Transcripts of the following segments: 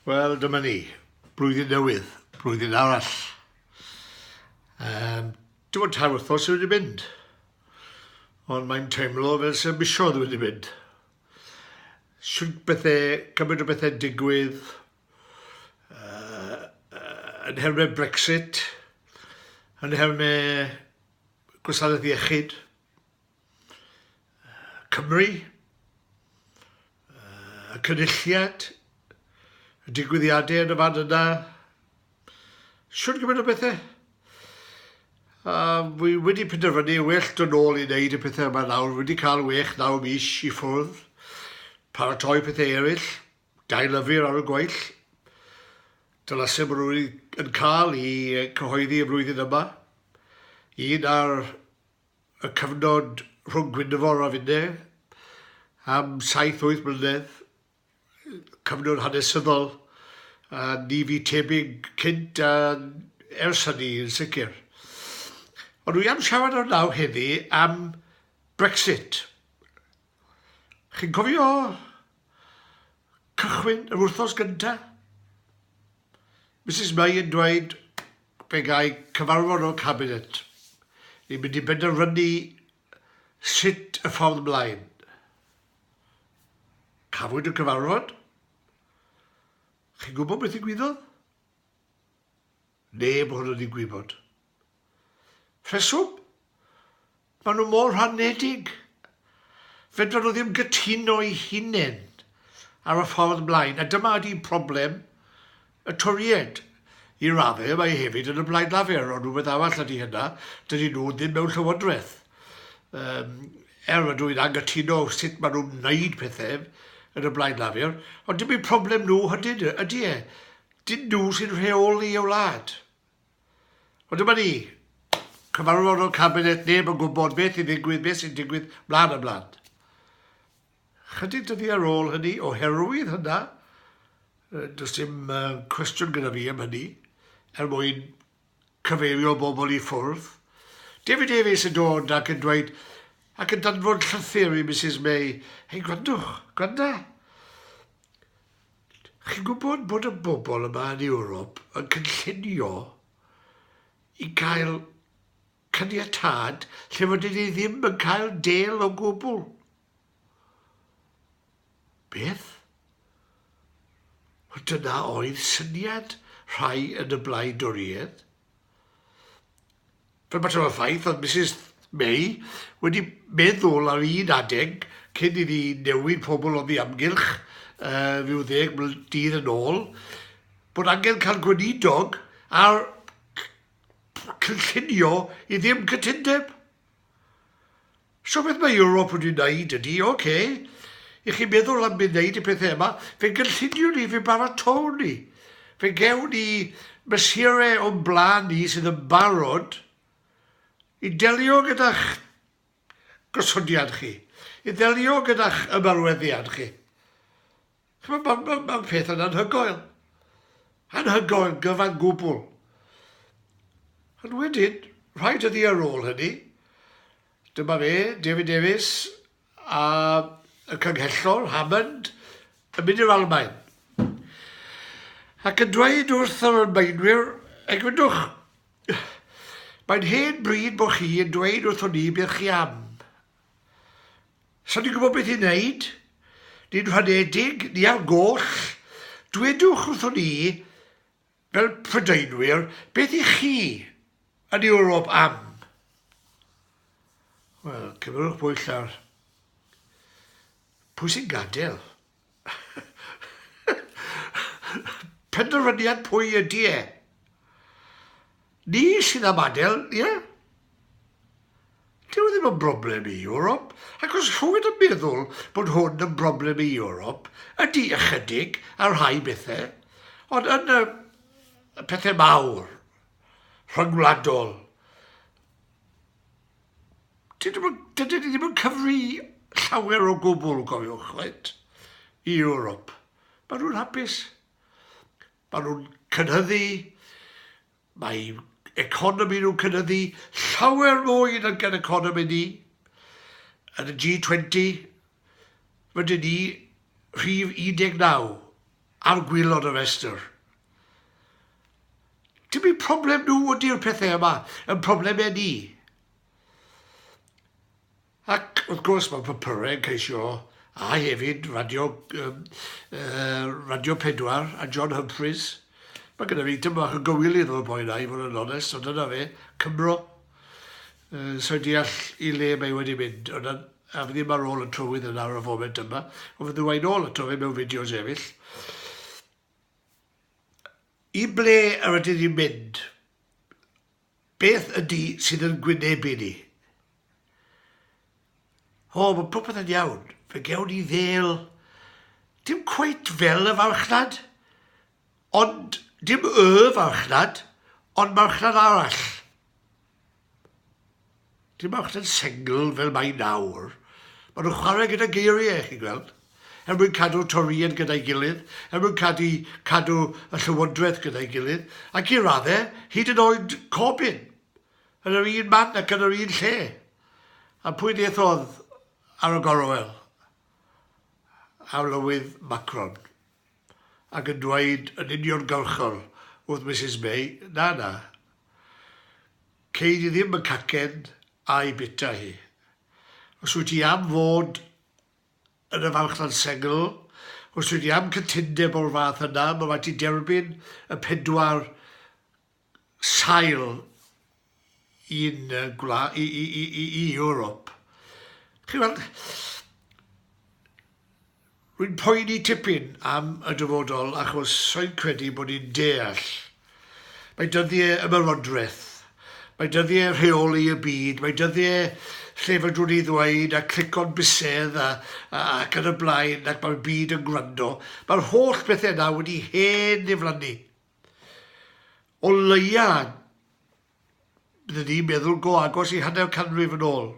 Wel, dyma ni. Blwyddyn newydd, blwyddyn arall. Um, Dim ond tair wythnos wedi mynd, ond mae'n teimlo fel sy'n misiodd wedi mynd. Siwr bethau, cymryd o bethau digwydd, uh, uh, yn hermau Brexit, yn hermau gwasanaeth iechyd, Cymru, y cynulliad, y digwyddiadau yn y fan yna, siwr gymaint o bethau. A fi wedi penderfynu well dod nôl i wneud y pethau yma nawr. Wedi cael wech naw mis i ffwrdd, paratoi pethau eraill, gael yfyr ar y gweill. Dyna sef maen nhw'n cael i cyhoeddi y flwyddyn yma. Un ar y cyfnod rhwng Gwynfor a finne am saith wyth mlynedd, cyfnod hanesyddol a ni fu tebyg cynt a ers hynny yn sicr. Ond wi am siarad o'r naw heddi am Brexit. Chi'n cofio cychwyn yr wrthos gyntaf? Mrs May yn dweud Pe gai cyfarfod o'r Cabinet, ni'n mynd i benderfynu sut y ffordd mlaen. Cafwyd y cyfarfod? Chi'n gwybod beth ddigwyddodd? Neb ohonon ni'n gwybod. Rheswm? Maen nhw mor rhanedig. Fedran nhw ddim gytuno'i hunain ar y ffordd mlaen, a dyma ydi problem y Toried. I raddau mae hefyd yn y Blaid Lafur, ond rhywbeth arall ydi hynna, dydy nhw ddim mewn llywodraeth. Um, er ydw i'n angytuno sut maen nhw'n wneud pethau yn y Blaid Lafur, ond dim eu problem nhw hydyn ydy e. Dyn nhw sy'n rheoli y wlad. Ond dyma ni, cyfarfod o'r Cabinet, neb yn gwybod beth sy'n digwydd, beth sy'n digwydd, mlaen a mlaen. Chydig dyddi ar ôl hynny, oherwydd hynna, does dim cwestiwn gyda fi am hynny, er mwyn cyfeirio bobl i ffwrdd. David Davies yn dod ac yn dweud, ac yn danfod llythyr i Mrs May, hei gwrandwch, gwranda, Chi'n gwybod bod y bobl yma yn Ewrop yn cynllunio i gael caniatâd lle fod ni ddim yn cael del o gwbl. Beth? Wel, dyna oedd syniad rhai yn y blaid Doriedd. Fel mater o faith, oedd Misus May wedi meddwl ar un adeg cyn iddi newid pobl oddi amgylch rhyw ddeg mlynedd dydd yn ôl, bod angen cael gweinidog ar cynllunio i ddim cytundeb. So beth mae Ewrop wedi wneud ydy, ok, i chi meddwl am mynd wneud y pethau yma, fe gynllunio ni, fe baratau ni, fe gewn ni mesurau o'n blaen ni sydd yn barod i delio gyda'ch gosodiad chi, i ddelio gyda'ch ymarweddiad chi. Chimod, mae'n ma, ma, ma peth yn anhygoel. Anhygoel, gyfan gwbl. Ond wedyn, rhaid ydi ar ôl hynny, dyma fe, David Davies a y cynghellor, Hammond, yn mynd i'r Almain. Ac yn dweud wrth yr Almaenwyr, egwyddwch, mae'n hen bryd bod chi yn dweud wrthon ni beth chi am. Sa ni'n gwybod beth i wneud, ni'n rhadedig, ni ar goll, dwedwch wrthon ni, fel Prydeinwyr, beth i chi yn Ewrop am? Wel, cymerwch bwyll ar pwy sy'n gadael. Penderfyniad pwy ydy e? Ni sydd am adael, ie? Dyw e ddim yn broblem i Ewrop, ac os rhywun yn meddwl bod hwn yn broblem i Ewrop, ydy ychydig ar rhai bethau, ond yn y pethau mawr, rhyngwladol, Dydyn nhw, dydyn ni ddim yn cyfri llawer o gwbl, cofiwch, reit, i Ewrop. Mae nhw'n hapus. Mae nhw'n cynhyddu, mae economi nhw'n cynhyddu llawer mwy yn gan economi ni. Yn y G20, rydyn ni rhif 19 ar gwaelod y rhestr. Dim eu problem nhw ydy'r pethau yma, yn problemau ni. Ac wrth gwrs mae papyrau yn ceisio, a hefyd radio, um, uh, radio Pedwar a John Humphreys. Mae gyda fi tyma o gywilydd o'r boi na i fod yn onest, so dyna fe, Cymro. Yy, sai'n deall i le mae wedi mynd, ond na- a fi ddim ar ôl y trywydd yna ar y foment yma, ond fydda i'n ôl ato fe mewn fideos eryll. I ble yr ydyn ni'n mynd? Beth ydy sydd yn gwynebu ni? O, mae popeth yn iawn. Fe gewn ni ddel... Dim cweit fel y farchnad. Ond dim y farchnad, ond marchnad arall. Dim marchnad sengl fel mae nawr. Mae nhw'n chwarae gyda geiriau, chi'n gweld, er mwyn cadw Torïaid gyda'i gilydd, er mwyn cadw, cadw y Llywodraeth gyda'i gilydd, ac i raddau, hyd yn oed Corbyn, yn yr un man ac yn yr un lle. A pwy ddiethodd ar y gorwel? Arlywydd Macron. ac yn dweud yn uniongyrchol wrth Misus May, 'Na, na. Cei di ddim y cacen a'i bwyta hi. Os wyt ti am fod yn y farchnad sengl, os wyt ti am cytundeb o'r fath yna, mae rhaid ti derbyn y pedwar sail i'n yy gwla- i i i i i Ewrop. Chi'n weld, rwy'n poeni tipyn am y dyfodol achos rwy'n credu bod ni'n deall mae dyddiau ymerodraeth, mae dyddiau rheoli y byd, mae dyddiau lle fedrwn ni ddweud a clico'n bysedd a, a, ac yn y blaen ac mae'r byd yn gwrando. Mae'r holl bethau yna wedi hen ddiflannu. O leia, bydden ni'n meddwl go agos i hanner canrif yn ôl.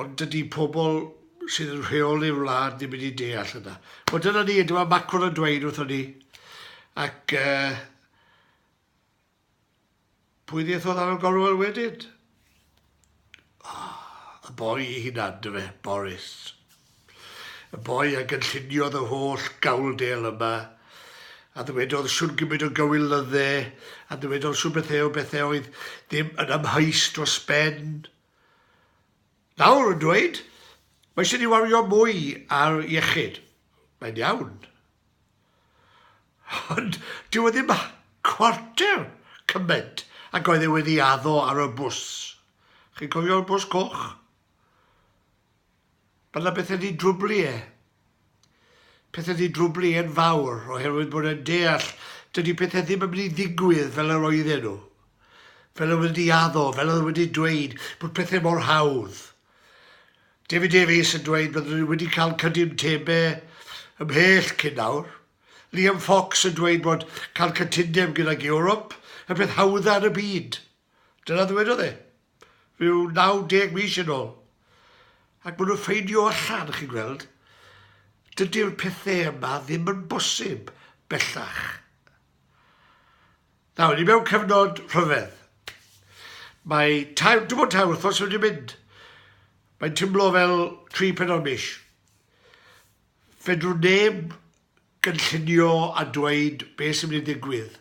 Ond dydy pobl sydd yn rheoli'r wlad ddim wedi deall hynna. Wel, dyna ni, dyma Macron yn dweud wrthon ni. Ac uh, Pwy ddiethodd ar y gorwel wedyd? Ah, y boi i hunan, dyfe, Boris. Y boi a gynlluniodd y holl gawldel yma, a ddywedodd siwn gymryd o gywil lydde, a ddywedodd siwn bethau o bethau oedd ddim yn amheus dros ben. Nawr yn dweud, mae eisiau ni wario mwy ar iechyd. Mae'n iawn. Ond dyw e ddim cwarter cymaint ag oedd e wedi addo ar y bws. Chi'n cofio'r bws coch? Mae yna bethau wedi drwblu e. Pethau wedi drwblu e'n fawr oherwydd bod e'n deall dydy pethau ddim yn mynd i ddigwydd fel yr oedden nhw. Fel oedd wedi addo, fel oedd wedi dweud bod pethau mor hawdd. David Davies yn dweud bydden nhw wedi cael cydyn Tebe ymhell cyn nawr. Liam Fox yn dweud bod cael cytundeb gydag Ewrop y peth hawdda yn y byd. Dyna ddywedodd e, rhyw 90 mis yn ôl. Ac maen nhw'n ffeindio allan, chi'n gweld, dydy'r pethau yma ddim yn bosib bellach. Nawr, ni mewn cyfnod rhyfedd. Mae tair, dim ond tair wythnos wedi mynd. Mae'n tymlo fel tri penod mis. Fedrwn neb gynllunio a dweud beth sy'n mynd i ddigwydd,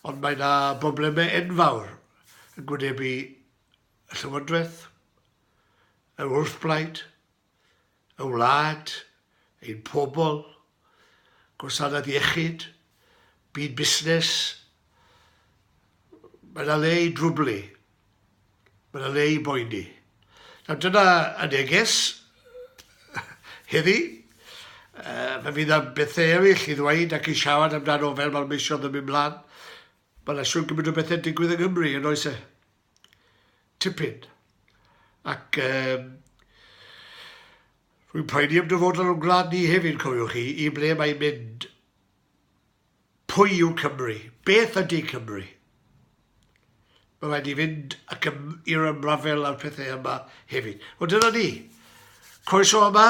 ond mae yna broblemau enfawr yn gwynebu y Llywodraeth, yr wrthblaid, y wlad, ein pobl, gwasanaeth iechyd, byd busnes, mae yna le i drwblu, mae yna le i boeni. Nawr dyna y neges heddi. Uh, fe fydd am bethau eraill i ddweud ac i siarad amdano fel mae'r misiodd yn mynd mlaen. Mae yna siwr gymaint o bethau'n digwydd yng Nghymru yn oes e? tipyn. Ac um, rwy'n poeni am dyfodol o'n gwlad ni hefyd, cofiwch chi, i ble mae'n mynd. Pwy yw Cymru? Beth ydy Cymru? Mae rhaid i fynd ac ym, i'r ymrafel a'r pethau yma hefyd. Ond dyna ni. Croeso yma.